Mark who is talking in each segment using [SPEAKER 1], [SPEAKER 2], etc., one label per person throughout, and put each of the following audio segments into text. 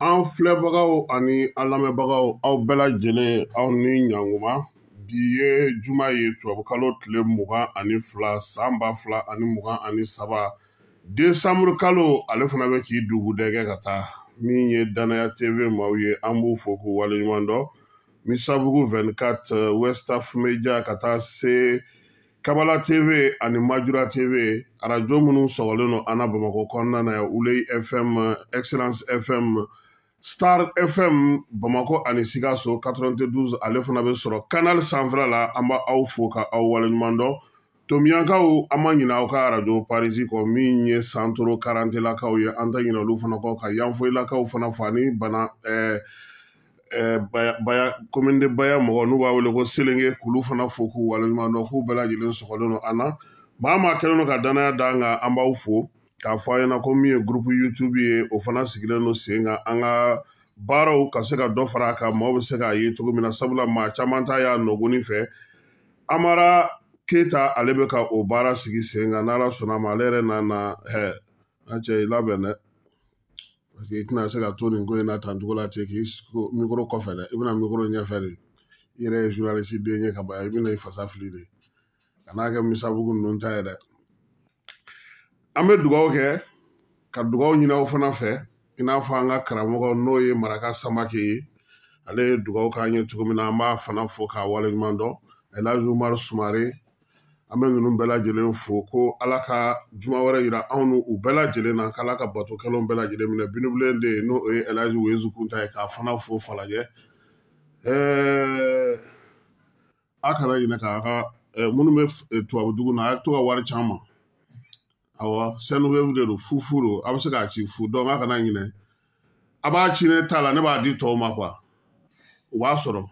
[SPEAKER 1] an filɛbagaw ani an lamɛnbagaw aw bɛɛ lajɛlen aw ni ɲanguma bi ye juma ye tubabukalo tile mugan ani fila san ba fila ani mugan ani saba desanburu kalo ale fana bɛ k'i dugudɛgɛ ka taa min ye danaya tv maaw ye an b'u fo k'u waleɲuman dɔn misabugu 24 westaf media ka taa se kabala tv ani majura tv arajo minnu sɔgɔlen don an na bamakɔ kɔnɔna na ulei fm excellence fm star fm bamakɔ ani sikaso 92 ale fana bɛ sɔrɔ kanal sanfɛla la an b'aw fo ka aw waleɲuman dɔn tominyankaw an ma ɲinɛ aw ka arajo parisi kɔ min ye santoro karantelakaw ye an tɛ ɲinɛ olu fana kɔ ka yanfoyilakaw fana fo ani bana eh, Eh, baya baya commune de baya mɔgɔ n'u b'a wele ko selenge k'olu fana fo k'u waleɲuman dɔn k'u bɛɛ lajɛlen sɔgɔlen don an na maa maa kɛlen don ka danaya da an kan an b'aw fo k'a fɔ aw ɲɛ na ko min ye gurupu youtube ye o fana sigilen don sen kan an ka baaraw ka se ka dɔ fara a kan maaw bɛ se k'a ye cogo min na sabula maa caman t'a y'a nɔgɔni fɛ amara keyita ale bɛ ka o baara sigi sen kan n'ala sɔnna a ma ale yɛrɛ nana ɛ an cɛ i labɛn dɛ parce que i tɛna se ka to nin ko in na tan cogo la ten k'i mikoro kɔfɛ dɛ i bɛ na mikoro ɲɛfɛ de i yɛrɛ ye journaliste den ye ka ban i bɛna i fasiya fili de ka n'a kɛ misabugu ninnu ta ye dɛ an bɛ dugawu kɛ ka dugawu ɲini aw fana fɛ i n'a fɔ an ka karamɔgɔ n'o ye maraka samake ye ale ye dugawu k'an ye cogo min na an b'a fana fo k'a waleɲuman dɔn elhaji umaru sumare an bɛ ninnu bɛɛ lajɛlen fo ko ala ka juma wɛrɛ yira anw n'u bɛɛ lajɛlen na k'ala ka bato kɛlenw bɛɛ lajɛlen minɛ binibilen de ye n'o ye ɛlaji wezu kunta ye k'a fana fo falajɛ ɛɛ a kana ɲinɛ k'a ka minnu bɛ tubabudugu na a ye to ka wari ci an ma awɔ sendwave de don fufu don a bɛ se k'a ci fu donc a kana ɲinɛ a b'a ci ne ta la ne b'a di tɔw ma quoi o b'a sɔrɔ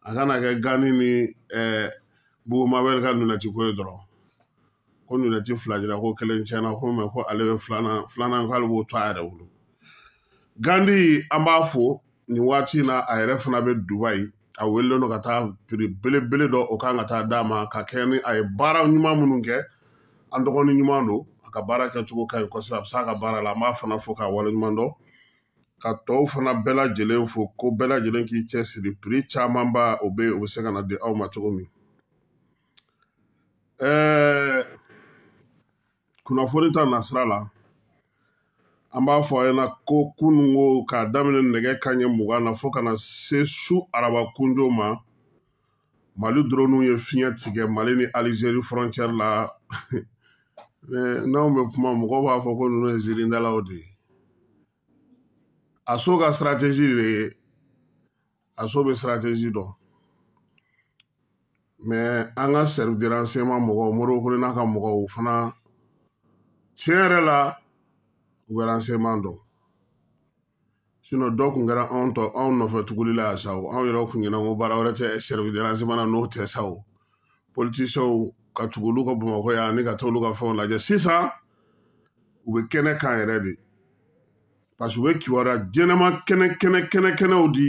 [SPEAKER 1] a kana kɛ gani ni ɛɛ bugumabɛri ka nunɛti ko ye dɔrɔn ko nunɛti fila dira ko kelen tiɲɛna ko mais ko ale bɛ filanan filanan k'ale b'o to a yɛrɛ bolo gandi an b'a fo nin waati in na a yɛrɛ fana bɛ dubayi a welelen don ka taa piri belebele dɔ o kan ka taa d'a ma ka kɛ ni a ye baara ɲuman minnu kɛ an dɔgɔnin ɲuman don a ka baara kɛcogo ka ɲi kosɛbɛ a bɛ s'a ka baara la an b'a fana fo k'a waleɲuman dɔn ka tɔw fana bɛɛ lajɛlen fo ko bɛɛ lajɛlen k'i cɛ siri piri camanba o bɛ o bɛ se ka na di aw ma cogo min ɛɛ kunnafoni ta nasira la an b'a fɔ aw ɲɛna ko kunun ko k'a daminɛ nɛgɛ kanɲɛ mugan na fo ka na se su araba kunjo ma mali droniw ye fiɲɛ tigɛ mali ni alizeri frontière la n'anw bɛ kuma mɔgɔ b'a fɔ ko ninnu ye zirindalaw de ye aso ka siratezi de ye aso bɛ siratɛzi dɔn mais an ka service de renseignement mɔgɔw modibo kɔnɛ n'a ka mɔgɔw fana tiɲɛ yɛrɛ la u bɛ renseignement dɔn sinon dɔ tun kɛra anw tɔ anw nɔfɛ tuguli la yan sa o anw yɛrɛw kun ɲɛna ko baara wɛrɛ tɛ service de renseignement na n'o tɛ sa o politisiyɛnw ka tugu olu kɔ bamakɔ yan ani ka taa olu ka fɛnw lajɛ sisan u bɛ kɛnɛ kan yɛrɛ de parce que u bɛ kibaruya jɛnɛma kɛnɛ kɛnɛ kɛnɛ kɛnɛw di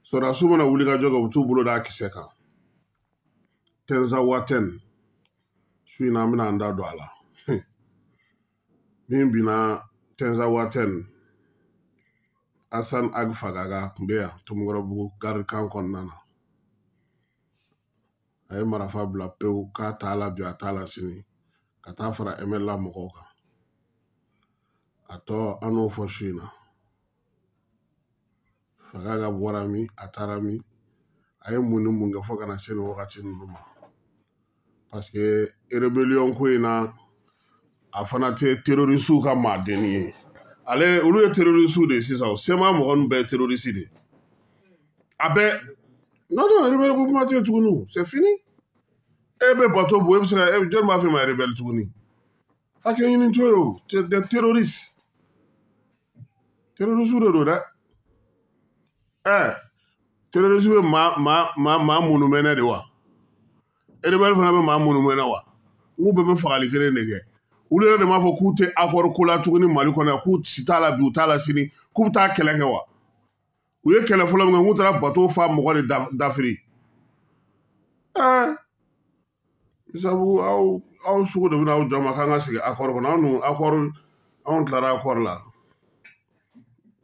[SPEAKER 1] sɔrɔdasiw mana wuli ka jɔ kɛ u bɛ t'u bolo d'a kisɛ kan tinzawatɛn su in na an bɛna an da don a la min binna tinzawatɛn asan ag fagaga tun bɛ yan tomikɔrɔbugu garidi kan kɔnɔna na
[SPEAKER 2] a ye marafa bila pewu k'a t'a la bi a t'a la sini ka taa fara mnla mɔgɔw kan a tɔ an n'o fɔ su in na fagaga bɔra min a taara min a ye mun ni mun kɛ fo ka na se nin wagati ninnu ma parce que erebeliyɔn ko in na a fana tɛ terorisiw ka maadenni ye ale olu ye terorisiw de ye sisan o cma mɔgɔ ninnu bɛɛ ye terorisi de ye a bɛɛ non non rebelle ko kuma tɛ yen tuguni o c'est fini e bɛ bato bon e bɛ se ka e jɔni b'a f'e ma rebelle tuguni hakɛ ɲini to ye o c'est des terroristes terorisiw de don dɛ ɛɛ terorisiw bɛ maa maa maa maa munumɛnɛ de wa rebelle fana bɛ maa munumɛnɛ wa n k'u bɛɛ bɛ fagali kelen de kɛ olu yɛrɛ de m'a fɔ k'u tɛ akɔri ko la tuguni mali kɔnɔ yan k'u si t'a la bi u t'a la sini k'u bɛ taa kɛlɛ kɛ wa u ye kɛlɛ fɔlɔ min kɛ k'u taara bato fa mɔgɔ de dafiri ɛɛ sabu aw aw sugu de bɛna aw jɔ ma k'an ka segin akɔri kɔnɔ anw dun akɔri anw tilara akɔri la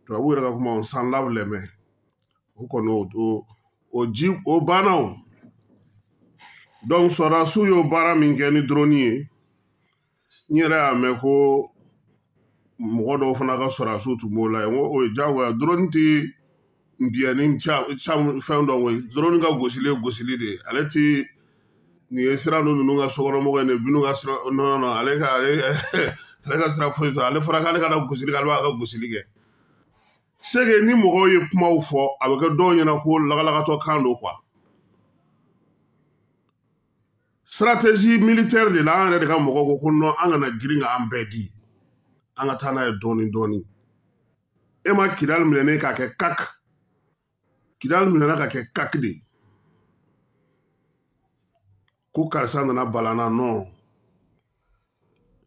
[SPEAKER 2] tubabu yɛrɛ ka kuma s'en lave les mains o kɔni o ji o banna o donc sɔrɔdasiw y'o baara min kɛ ni droni ye n yɛrɛ y'a mɛn ko mɔgɔ dɔw fana ka sɔrɔdasiw tun b'o la yen n ko o ye diyagoya droni tɛ nbiyɛnni fɛn dɔn droni ka gosili ye gosili de ye ale tɛ nin ye sira ninnu ninnu ka sokɔnɔmɔgɔ ye nin binnu ka sira non non ale ka ale ale ka sira foyi tɛ ale fɔra k'ale kana gosili kɛ ale b'a ka gosili kɛ c'est que ni mɔgɔw ye kumaw fɔ a bɛ kɛ dɔw ɲɛna ko lagalagatɔ kan don quoi stratégie militaire de la an yɛrɛ de ka mɔgɔ ko ko non an kana girin ka an bɛɛ di an ka taa n'a ye dɔɔni dɔɔni e ma kidali minɛnen k'a kɛ kak kidali minɛna k'a kɛ kak de ye ko karisa nana balana non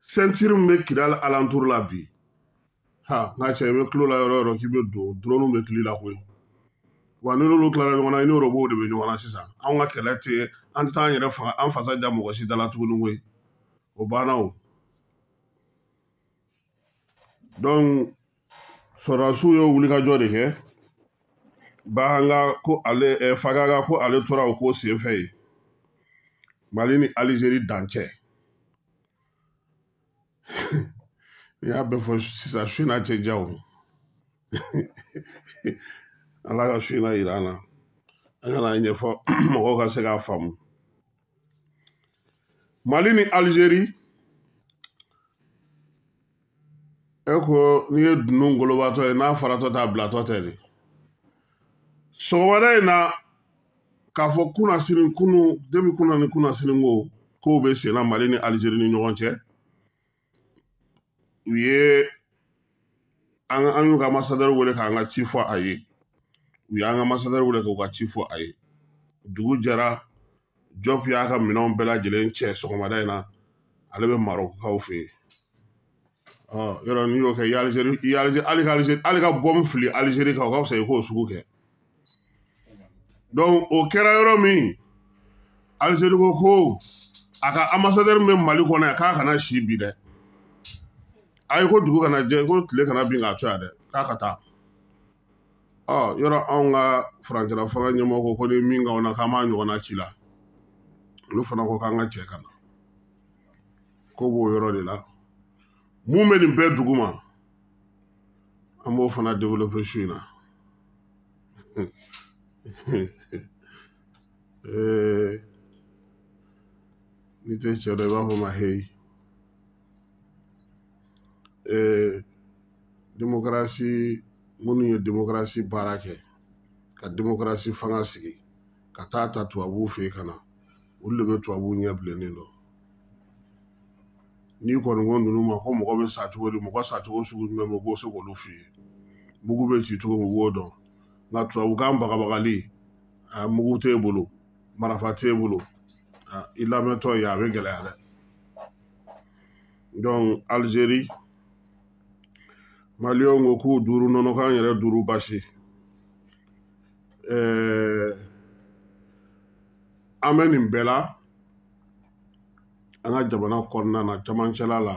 [SPEAKER 2] ceinture min bɛ kidali alentour la bi ha n ka cɛ i bɛ tulo la yɔrɔ o yɔrɔ k'i bɛ don durɔniw bɛ tili la koyi wa n'i n'olu tilara ɲɔgɔn na i ni robot de bɛ ɲɔgɔn na sisan anw ka kɛlɛ tɛ an tɛ taa an yɛrɛ faga an fasa ja mɔgɔ si da la tuguni koyi o banna o donc sɔrɔdasiw ye wulikajɔ de kɛ bahanga ko ale eh, fagaga ko ale tora o ko senfɛ ye mali ni alizeri dancɛ n'i y'a bɛɛ fɔ sisan su in na tɛ diya o ala ka su in na yira an na an ka n'a ɲɛfɔ mɔgɔw ka se k'a faamu mali ni alizeri e ko n'i ye dunun ngolobatɔ ye n'a faratɔ t'a bilatɔ tɛ de sɔgɔmada in na k'a fɔ kunasinin kunun depuis kunun ni kunasinin ko kow bɛ senna mali ni alizeri ni ɲɔgɔn cɛ u ye an an y'u ka ambasadɛri wele k'an ka ci fɔ a ye u y'an ka ambasadɛri wele k'u ka ci fɔ a ye dugu jɛra jɔp y'a ka minɛnw bɛɛ lajɛlen cɛ sɔgɔmada in na ale bɛ marɔkukaw fɛ yen yɔrɔ n'i y'o kɛ hali ka bɔmu fili alizeri kan o ka fisa i k'o sugu kɛ donc o kɛra yɔrɔ min alizeri ko ko a ka ambasadɛri bɛ mali kɔnɔ yan k'a kana si bi dɛ ayi ko dugu kana jɛ ko tile kana bin k'a to yan dɛ k'a ka taa o yɔrɔ anw ka furancɛla fanga ɲɛmɔgɔ ko ko n'i ye min k'anw na k'an b'a ɲɔgɔnna c'i la olu fana ko k'an ka cɛ ka na ko b'o yɔrɔ de la mun bɛ nin bɛɛ duguma an b'o fana développer su in na ee n'i tɛ cɛ dɔn i b'a fɔ a ma heyi ee demokarasi minnu ye demokarasi baara kɛ ka demokarasi fanga sigi ka taa a ta tubabuw fɛ yen ka na olu de bɛ tubabuw ɲɛ bilennen dɔn n'i kɔni ko ninnu ma ko mɔgɔ bɛ sa cogo di mɔgɔ sa cogo sugu jumɛn bɛ u b'o se k'olu f'i ye mugu bɛ ci cogo min u b'o dɔn nka tubabukan bagabagali mugu t'e bolo marafa t'e bolo i lamɛntɔ ye a bɛ gɛlɛya dɛ donc Algérie maliyɛnw ko k'u duuru nɔnɔ k'an yɛrɛ duuru basi ɛɛ an bɛ nin bɛɛ la an ka jamana kɔnɔna na camancɛla la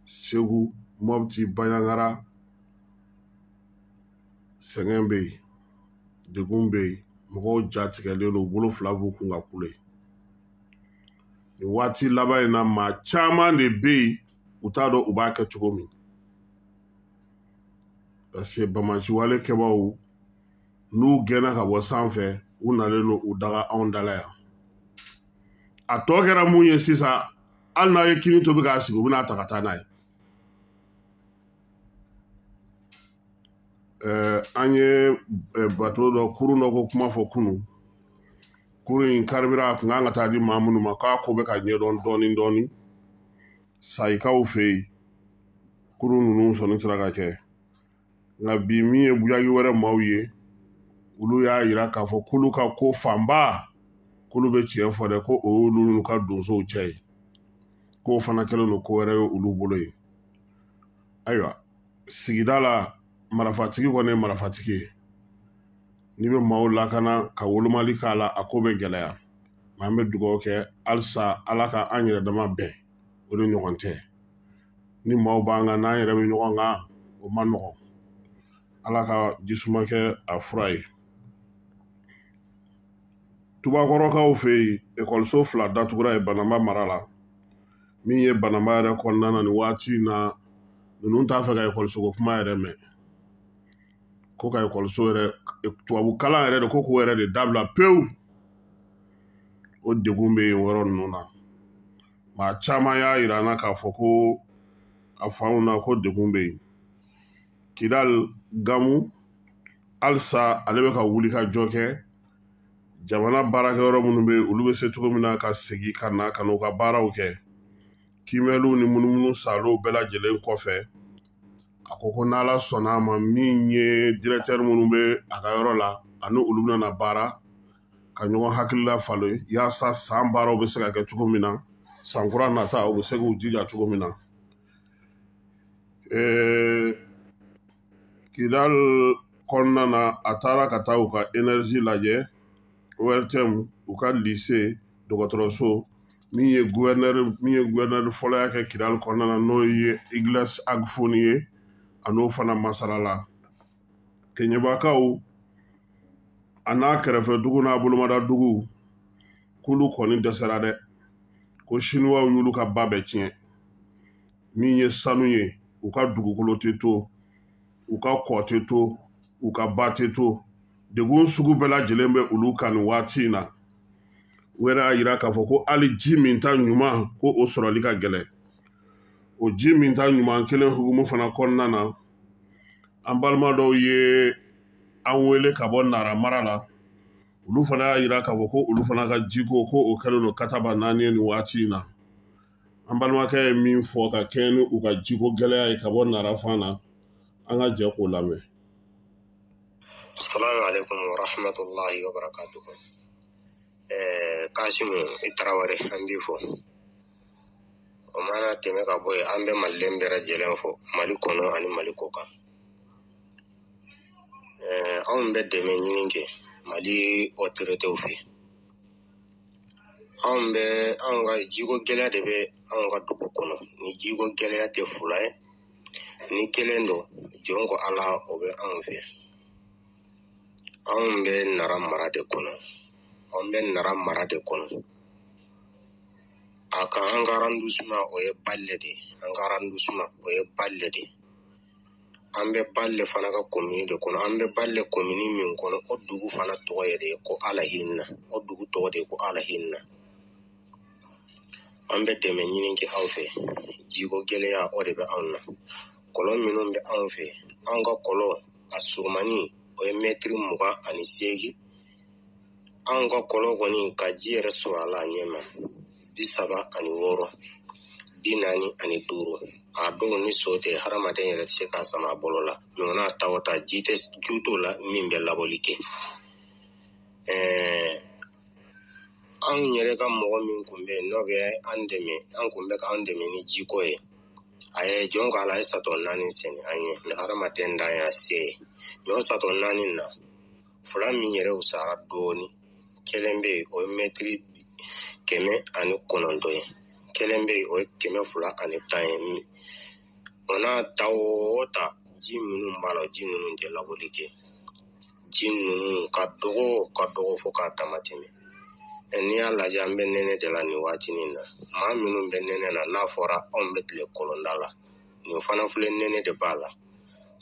[SPEAKER 2] segu mɔputi baɲangara sɛgɛn bɛ yen degun bɛ yen mɔgɔw jatigɛlen don u bolo fila b'u kun ka kule nin waati laban in na maa caman de bɛ yen u t'a dɔn u b'a kɛ cogo min parce que bamasiwale kɛbaaw n'u gɛnna ka bɔ sanfɛ u nalen don u daga anw dala yan a tɔ kɛra mun ye sisan hali n'a ye kini tobi k'a sigi u bɛn'a ta ka taa n'a ye eh, an ye eh, bato dɔ kurun dɔ ko kuma fɔ kunun kurun in karibira a kun kan ka t'a di maa minnu ma k'a ko bɛ ka ɲɛdɔn dɔɔni dɔɔni sayikaw fɛ yen kurun ninnu sɔnni sera ka kɛ nka bi min ye buyagi wɛrɛ maaw ye olu y'a yira k'a fɔ k'olu ka ko fanba k'olu bɛ tiɲɛ fɔ dɛ ko o y'olu n'u ka donsow cɛ ye k'o fana kɛlen don ko wɛrɛ ye olu bolo ye ayiwa sigida la marafatigi kɔni ye marafatigi ye n'i bɛ maaw lakana ka wolomali k'a la a ko bɛ gɛlɛya nka an bɛ dugawu kɛ halisa ala ka an yɛrɛ dama bɛn o de ɲɔgɔn tɛ ni maaw b'an kan n'an yɛrɛ bɛ ɲɔgɔn kan o man nɔgɔn ala ka jisuma kɛ a fura ye tubakɔrɔkaw fɛ yen ekɔliso fila datugura yen bananba mara la min ye bananba yɛrɛ kɔnɔna na nin waati in na ninnu t'a fɛ ka ekɔliso ko kuma yɛrɛ mɛn ko ka ekɔliso yɛrɛ tubabu kalan yɛrɛ de ko k'o yɛrɛ de dabila pewu o degun bɛ yen yɔrɔ ninnu na maa caman y'a yira an na k'a fɔ ko a fanw na ko degun bɛ yen kidal gamu halisa ale bɛ ka wulikajɔ kɛ jamana baarakɛyɔrɔ minnu bɛ olu bɛ se cogo min na ka segin ka na ka n'u ka baaraw kɛ kiimɛliw ni munumunusaalow bɛɛ lajɛlen kɔfɛ a ko ko n'ala sɔnna a ma min ye directeur minnu bɛ a ka yɔrɔ la ani olu bɛna baara ka ɲɔgɔn hakilila falen yaasa san baaraw bɛ se ka kɛ cogo min na san kura nata u bɛ se k'u jija cogo min na kidal kɔnɔna na a taara ka taa u ka énergie lajɛ ORTM u ka lise dɔgɔtɔrɔso min ye gouverneur min ye gouverneur fɔlɔya kɛ kidal kɔnɔna na n'o ye egleze ag foni ye a n'o fana masarala kɛɲɛbakaw a n'a kɛrɛfɛ dugu n'a bolomada dugu k'olu kɔni dɛsɛra dɛ ko siniwaw y'olu ka ba bɛɛ tiɲɛ min ye sanu ye u ka dugukolo tɛ to u ka kɔ tɛ to u ka ba tɛ to degun sugu bɛɛ lajɛlen bɛ olu kan nin waati in na u yɛrɛ y'a yira k'a fɔ ko hali ji minta ɲuman ko o sɔrɔli ka gɛlɛn o ji minta ɲuman kelen hukumu fana kɔnɔna na an balima dɔw ye an wele ka bɔ nara mara la olu fana y'a yira k'a fɔ ko olu fana ka jiko ko o kɛlen don kataba naani ye nin waati in na an balimakɛ ye min fɔ ka kɛɲɛ ni u ka jiko gɛlɛya ye ka bɔ nara fan na an ka jɛ k'o
[SPEAKER 3] lamɛn assalamu alaikum wa rahmatullahi wa barakatuhu eh, kasimu i taraware an b'i fo o mana tɛmɛ ka bɔ yen an bɛ maliden bɛɛ lajɛlen fo mali kɔnɔ ani mali kɔkan eh, anw bɛ dɛmɛ ɲini kɛ mali otoritew fɛ anw bɛ anw ka jiko gɛlɛya de bɛ anw ka dugu kɔnɔ ni jiko gɛlɛya tɛ fula ye ni kelen don jɔn ko ala o bɛ anw fɛ anw bɛ nara mara de kɔnɔ anw bɛ nara mara de kɔnɔ a ka an ka arrondissement o ye balle de an ka arrondissement o ye balle de an bɛ balle fana ka komini de kɔnɔ an bɛ balle komini min kɔnɔ o dugu fana tɔgɔ ye de ko alahinna o dugu tɔgɔ de ye ko alahinna an bɛ dɛmɛ ɲini kɛ aw fɛ jiko gɛlɛya o de bɛ anw na kɔlɔn minnu bɛ anw fɛ anw ka kɔlɔn a surumani o ye mɛtiri mugan ani seegin anw ka kɔlɔn kɔni ka ji yɛrɛ sɔrɔ a la a ɲɛma bi saba ani wɔɔrɔ bi naani ani duuru a dɔw ni so tɛ hadamaden yɛrɛ tɛ se k'a sama a bolo la ɲɔgɔnna ta o ta ji t'o la min bɛ labɔli kɛ ɛɛ anw yɛrɛ ka mɔgɔ min tun bɛ yen n'o bɛ an dɛmɛ a tun bɛ k'an dɛmɛ ni jiko ye a ye jɔn ko ala a ye satɔ naani sen an ye mɛ hadamaden dan y'a se ye nin satɔ naani na fila min yɛrɛ wusara dɔɔni kelen bɛ yen o ye mɛtiri kɛmɛ ani kɔnɔntɔn ye kelen bɛ yen o ye kɛmɛ fila ani tan ye o n'a ta o ta ji minnu b'a la ji ninnu tɛ labɔli kɛ ji ninnu ka dɔgɔ ka dɔgɔ fo k'a dama tɛmɛ n'i y'a lajɛ an bɛ nɛnɛ de la nin waati nin na maa minnu bɛ nɛnɛ na n'a fɔra anw bɛ tile kɔlɔnda la nin fana filɛ nɛnɛ de b'a la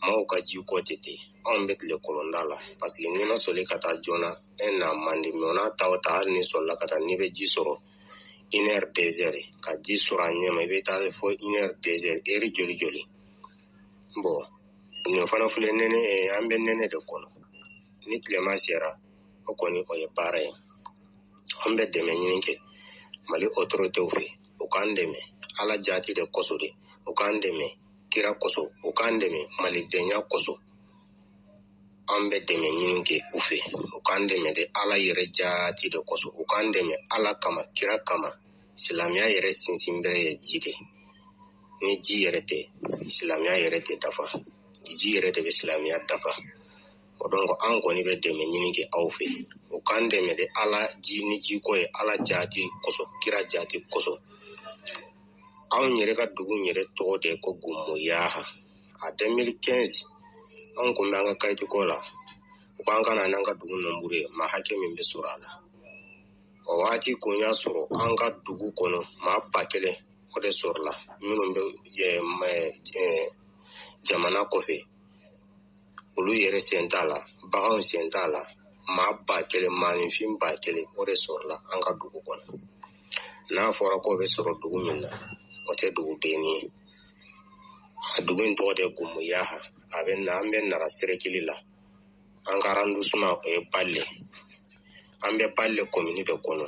[SPEAKER 3] maaw ka ji ko tɛ ten anw bɛ tile kɔlɔnda la parce que n'i ma sɔli ka taa joona e na man di mais o n'a ta o ta hali n'i sɔlila ka taa n'i bɛ ji sɔrɔ une heure deux heures ka ji sɔrɔ a ɲɛma i bɛ taa fo une heure deux heures heure joli joli bon nin fana filɛ nɛnɛ an bɛ nɛnɛ de kɔnɔ ni tilema sera o kɔni o ye baara ye an bɛ dɛmɛ ɲini kɛ mali autoritéw fɛ u k'an dɛmɛ ala jaati de kosɔn de u k'an dɛmɛ kira kosɔn u k'an dɛmɛ malidenya kosɔn an bɛ dɛmɛ ɲini kɛ u fɛ u k'an dɛmɛ de ala yɛrɛ jaati de kosɔn u k'an dɛmɛ ala kama kira kama silamɛya yɛrɛ sinsinbere ye ji de ni ji yɛrɛ tɛ silamɛya yɛrɛ tɛ dafa ji yɛrɛ de bɛ silamɛya dafa o donc an kɔni bɛ dɛmɛ ɲini kɛ aw fɛ u k'an dɛmɛ de ala ji ni ji ko ye ala jaati kosɔn kira jaati kosɔn anw yɛrɛ ka dugu yɛrɛ tɔgɔ de ko gumuyaha a 2015 anw kun bɛ an ka kayiti ko la u k'an ka na n'an ka dugu nɔnburu ye maa hakɛ min bɛ sɔrɔ a la o wagati kun y'a sɔrɔ an ka dugu kɔnɔ maa ba kelen o de sɔrɔla minnu bɛ jamana kɔfɛ olu yɛrɛ sen t'a la baganw sen t'a la maa ba kelen maaninfin ba kelen o de sɔrɔla an ka dugu kɔnɔ n'a fɔra k'o bɛ sɔrɔ dugu min na o tɛ dugu denni ye a dugu in tɔgɔ de gumuyaha a bɛ na an bɛ nara serekili la an ka arɔndisiman o ye bale an bɛ bale komini de kɔnɔ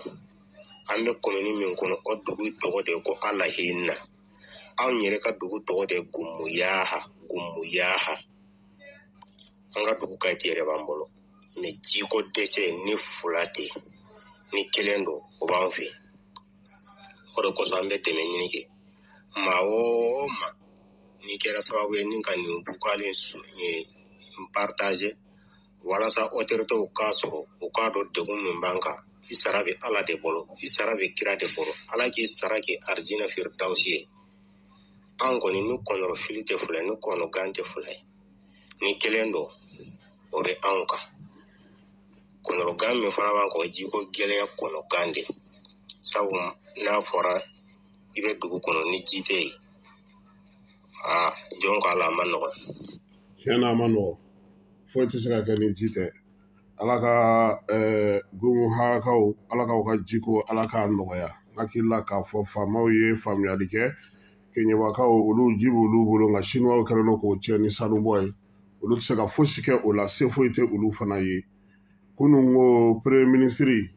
[SPEAKER 3] an bɛ komini min kɔnɔ o dugu tɔgɔ de ko alahina anw yɛrɛ ka dugu tɔgɔ de gumuyaha gumuyaha an ka dugu kayiti yɛrɛ b'an bolo mais jiko dɛsɛ ni fula tɛ ni kelen don o b'an fɛ o de kosɔn an bɛ dɛmɛ ɲini kɛ maa o maa n'i kɛra sababu ye n'i ka nin vocal in partager walasa autoritéw k'a sɔrɔ u k'a dɔn degun min b'an kan i sara bɛ ala de bolo i sara bɛ kira de bolo ala k'i sara kɛ arijinɛ firidawusi ye an kɔni ni kɔnɔrɔfili tɛ fila ye ni kɔnɔgan tɛ fila ye ni kelen don o bɛ anw kan kɔnɔrɔgan min fana b'an kan o ji ko gɛlɛya kɔnɔgan de sabu n'a fɔra i bɛ dugu kɔnɔ ni ji tɛ yen aa jɔn ko ala a ma nɔgɔn tiɲɛ na a ma
[SPEAKER 2] nɔgɔn foyi tɛ se ka kɛ ni ji tɛ ala ka gumuhakaw ala k'aw ka jiko ala k'a nɔgɔya hakili la k'a fɔ faamaw ye faamuyali kɛ keɲɛbakaw olu ji b'olu bolo nka siniwaw kɛlen don k'o tiɲɛ ni sanubɔ ye olu tɛ se ka fosi kɛ o la se foyi tɛ olu fana ye kunun ko premier ministre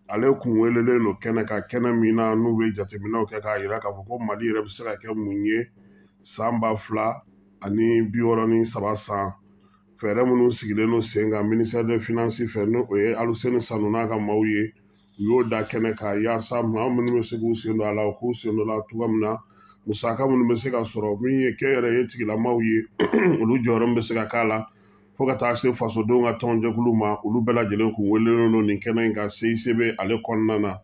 [SPEAKER 2] ale kun welelen don kɛnɛ kan kɛnɛ min na n'u bɛ jateminɛw kɛ k'a jira k'a fɔ ko mali yɛrɛ bɛ se ka kɛ mun ye san ba fila ani bi wɔɔrɔ ni saba san fɛɛrɛ minnu sigilen don sen kan minisɛri de finansi fɛ n'o o ye aluseni sanu n'a ka maaw ye u y'o da kɛnɛ kan yaasa maa minnu bɛ se k'u sen don a la u k'u sen don a la cogoya min na musaka minnu bɛ se ka sɔrɔ min ye kɛnyɛrɛye tigilamaw ye olu jɔyɔrɔ min bɛ se ka k'a la fo ka taa se fasodenw ka tɔnjɛkulu ma olu bɛɛ lajɛlen kun welelen don nin kɛnɛ in kan CICB ale kɔnɔna na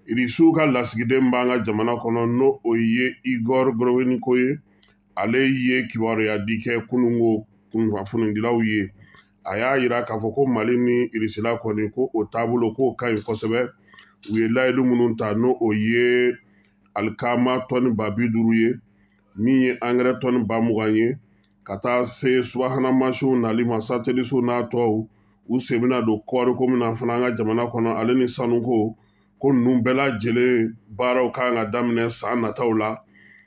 [SPEAKER 2] irisiw ka lasigiden b'an ka jamana kɔnɔ n'o o ye igor gorowiniko ye ale ye kibaruya di kɛ kunun ko kunnafonidilaw ye a y'a yira k'a fɔ ko mali ni irisila kɔni ko o taabolo k'o ka ɲi kosɛbɛ u ye layidu minnu ta n'o o ye alikaama tɔni ba bi duuru ye min ye angɛrɛ tɔni ba mugan ye ka taa se subahana mansinw walima satelisiw n'a tɔw u sen bɛna don kɔɔriko min na fana an ka jamana kɔnɔ ale ni sanuko ko ninnu bɛɛ lajɛlen baaraw ka kan ka daminɛ san nataw la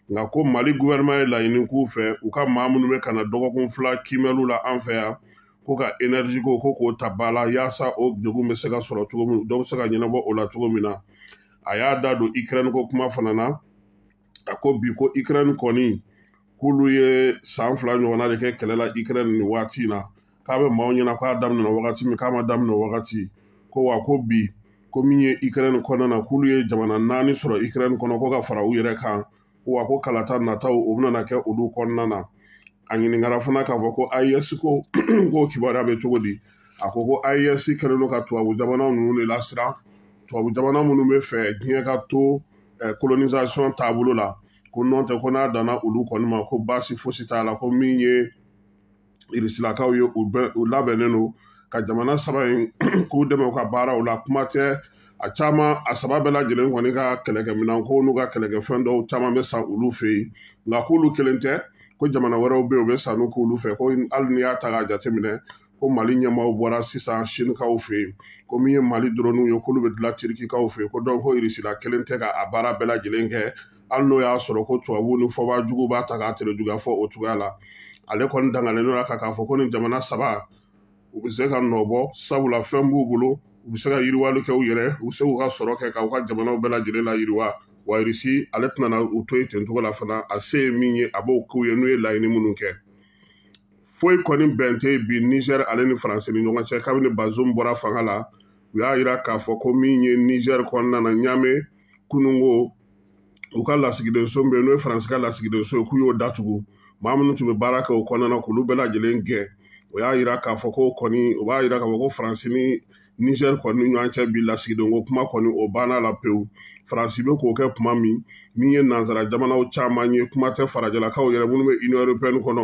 [SPEAKER 2] nka ko mali guvɛrɛnɛma ye laɲini k'u fɛ u ka maa minnu bɛ ka na dɔgɔkun fila kiimɛliw la an fɛ yan ko ka enerji ko ko k'o ta ba la yaasa o degun bɛ se ka sɔrɔ cogo min dɔ bɛ se ka ɲɛnabɔ o la cogo min na a y'a da don ikirɛni ko kuma fana na a ko bi ko ikirɛni kɔni k'olu ye san fila ɲɔgɔnna de kɛ kɛlɛ la ikirɛni nin waati in na k'a bɛ maaw ɲɛna k'a daminɛna wagati min k'a ma daminɛ wagati ko wa ko bi ko min ye ikirɛni kɔnɔna na k'olu ye jamana naani sɔrɔ ikirɛni kɔnɔ ko ka fara u yɛrɛ kan ko wa ko kalata nataw o bɛna kɛ olu kɔnɔna na a ɲininkara fana k'a fɔ ko AES ko k'o kibaruya bɛ cogo di a ko ko AES kɛlen don ka tubabu jamana ninnu de lasiran tubabu jamana minnu bɛ fɛ diɲɛ ka to eh, colonisation taabolo la ko nɔntɛ ko n'a danna olu kɔni ma ko baasi fosi t'a la ko min ye irisilakaw ye u labɛnnen don ka jamana saba in k'u dɛmɛ u ka baaraw la kuma tɛ a jamana saba bɛɛ lajɛlen kɔni ka kɛlɛkɛminɛn ko n'u ka kɛlɛkɛfɛn dɔw caman bɛ san olu fɛ yen nka k'olu kelen tɛ ko jamana wɛrɛw bɛ yen u bɛ sanni k'olu fɛ ko hali n'i y'a ta k'a jateminɛ ko mali ɲɛmaaw bɔra sisan sinikaw fɛ yen ko min ye mali dɔrɔniw ye k'olu bɛ dilan tirikikaw fɛ yen ko donc ko irisila kelen tɛ ka a baara bɛɛ lajɛlen kɛ hali n'o y'a sɔrɔ ko tubabu ni fɔbaa jugu b'a ta k'a terejuguya fɔ o cogoya la ale kɔni dangalen don a kan k'a fɔ ko nin jamana saba u bɛ se ka nɔ bɔ sabula fɛn b'u bolo u bɛ se ka yiriwali kɛ u yɛrɛ u bɛ se k'u ka sɔrɔ kɛ k'u ka jamanaw bɛɛ lajɛlen layiriwa wa irisi ale tɛna u to yen ten cogo la fana a se ye min ye a b'o k'u ye n'u ye laɲini minnu kɛ foyi kɔni bɛn tɛ bi Niger ale ni faransi ni ɲɔgɔn cɛ kabini bazum bɔra fanga la u y'a jira k'a fɔ ko min ye Niger kɔnɔna na Niamey kunun ko u ka lasigidenso min bɛ n'o ye faransi ka lasigidenso ye k'u y'o datugu maa minnu tun bɛ baara kɛ o kɔnɔna na k'olu bɛɛ lajɛlen gɛn o y'a jira k'a fɔ ko kɔni o b'a jira k'a fɔ ko faransi ni Niger kɔni ɲɔgɔn cɛ bi lasigidenko kuma kɔni o banna la pewu faransi bɛ k'o kɛ kuma min min ye nansara jamanaw caman ye kuma tɛ farajɛlakaw yɛrɛ minnu bɛ union européenne kɔnɔ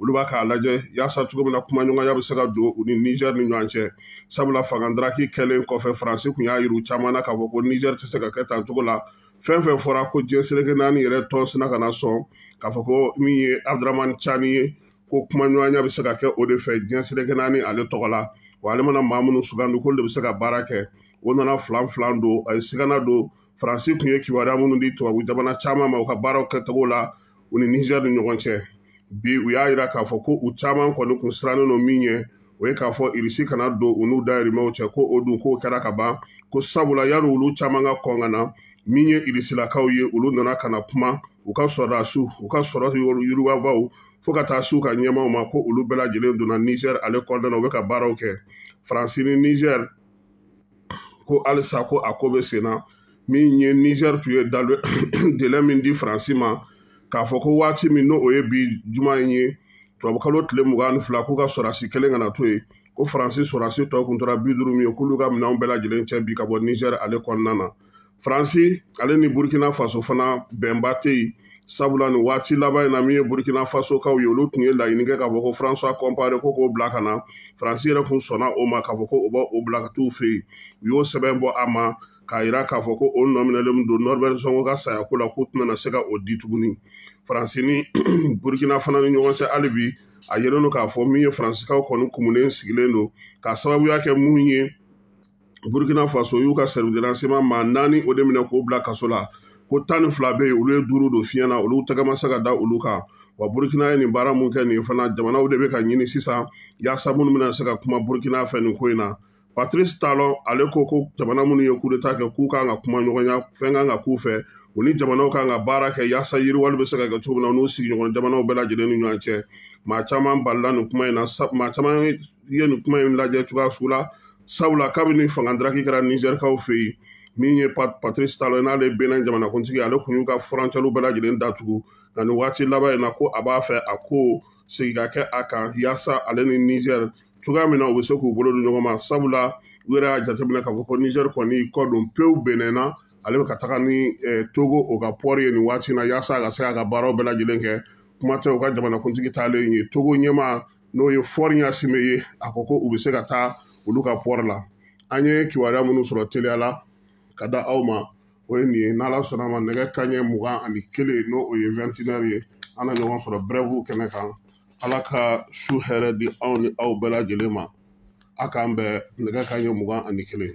[SPEAKER 2] olu bɛ k'a lajɛ yaasa cogo min na kumaɲɔgɔnya bɛ se ka don u ni Niger ni ɲɔgɔn cɛ sabula fangandaraki kɛlen kɔfɛ faransi tun y'a yira caman na k'a fɔ ko Niger tɛ se ka kɛ tan cogo la fɛn fɛn fɔra ko diɲɛ seleke naani yɛrɛ tɔn sina kana sɔn k'a fɔ ko min ye abudramani cani ye ko kumaɲɔgɔnya bɛ se ka kɛ o de fɛ diɲɛ seleke naani ale tɔgɔ la wa ale mana maa minnu sugandi k'olu de bɛ se ka baara kɛ o nana filanfilan don a ye sigana don faransi tun ye kibaruya minnu di tubabu jamana caman ma u ka baaraw kɛcogo la u ni Niger ni ɲɔgɔn cɛ bi u y'a jira k'a fɔ ko u caman kɔni kun sirannen don min ɲɛ o ye k'a fɔ irisi kana don u n'u dayirimɛw cɛ ko o dun k'o kɛra ka ban ko sabula yanni olu caman ka kɔn ka na min ye irisilakaw ye olu nana ka na kuma u ka sɔrɔdasiw u ka sɔrɔ yiriwabaw fo ka taa s'u ka ɲɛmaaw ma ko olu bɛɛ lajɛlen donna Niger ale kɔnɔna na u bɛ ka baaraw kɛ faransi ni Niger ko halisa ko a ko bɛ sen na min ye niger tun ye délai min di faransi ma k'a fɔ ko waati min n'o ye bi juma in ye tubabukalo tile mugan ni fila k'u ka sɔrɔdasi kelen kana to yen ko faransi sɔrɔdasi tɔ kun tora bi duuru min ye k'olu ka minɛnw bɛɛ lajɛlen cɛ bi ka bɔ niger ale kɔnɔna na faransi ale ni burkina faso fana bɛnba tɛ yen sabula nin waati laban in na min ye burkina faso kaw ye olu tun ye laɲini kɛ k'a fɔ ko françois compaoré ko k'o bila ka na faransi yɛrɛ tun sɔnna o ma k'a fɔ ko o b'o bila ka t'u fɛ yen u y'o sɛbɛn bɔ a ma k'a yira k'a fɔ ko o nɔminɛlen don norbert zongo ka saya ko la k'u tɛna se ka o di tuguni faransi ni burkina fana ni ɲɔgɔn cɛ hali bi a yelen don k'a fɔ min ye faransikaw kɔni kumunen sigilen don k'a sababuya kɛ mun ye burkina faso y'u ka service de renseignement maa naani o de minɛ k'o bila kaso la ko tan ni fila bɛ yen olu ye duuru don fiɲɛ na olu tɛgɛ ma se ka da olu kan wa burkina ye nin baara mun kɛ nin fana jamanaw de bɛ ka ɲini sisan yaasa minnu bɛna se ka kuma burkina fɛ nin ko in na patrice talon ale ko ko jamana minnu ye kudeta kɛ k'u kan ka kuma ɲɔgɔnya fɛn kan ka k'u fɛ u ni jamanaw kan ka baara kɛ yaasa yiriwali bɛ se ka kɛ cogo min na u n'u sigiɲɔgɔn jamanaw bɛɛ lajɛlen ni ɲɔgɔn cɛ maa caman balila nin kuma in na maa caman i ye nin kuma in lajɛ cogoya sugu la sabula kabini fanga daraki kɛra nizɛrikaw fɛ yen min ye patrice talon n'ale benin jamanakuntigi ale tun y'u ka furancɛliw bɛɛ lajɛlen datugu nka nin waati laban in na ko a b'a fɛ a kɔsegin ka kɛ a kan yaasa ale ni nizɛri cogoya min na u bɛ se k'u bolo di ɲɔgɔn ma sabula u yɛrɛ y'a jateminɛ k'a fɔ ko nizɛri kɔni kɔ don pewu benin na ale bɛ ka taga ni eh, togo o ka pɔri ye nin waati in na yaasa a ka se k'a ka baaraw bɛɛ lajɛlen kɛ kuma tɛ u ka jamanakuntigi taalen ye togo ɲɛmaa n'o ye faure gnassingbé ye a ko ko u bɛ se ka taa olu ka pɔri la an ye kibaruya minnu sɔrɔ teliya la ka da aw ma o ye nin ye n'ala sɔnna ma nɛgɛ kanɲɛ mugan ani kelen n'o o ye vɛntinɛri ye an na ɲɔgɔn sɔrɔ brɛvu kɛnɛ kan ala ka su hɛrɛ di anw ni aw bɛɛ lajɛlen ma a k'an bɛn nɛgɛ kanɲɛ mugan ani kelen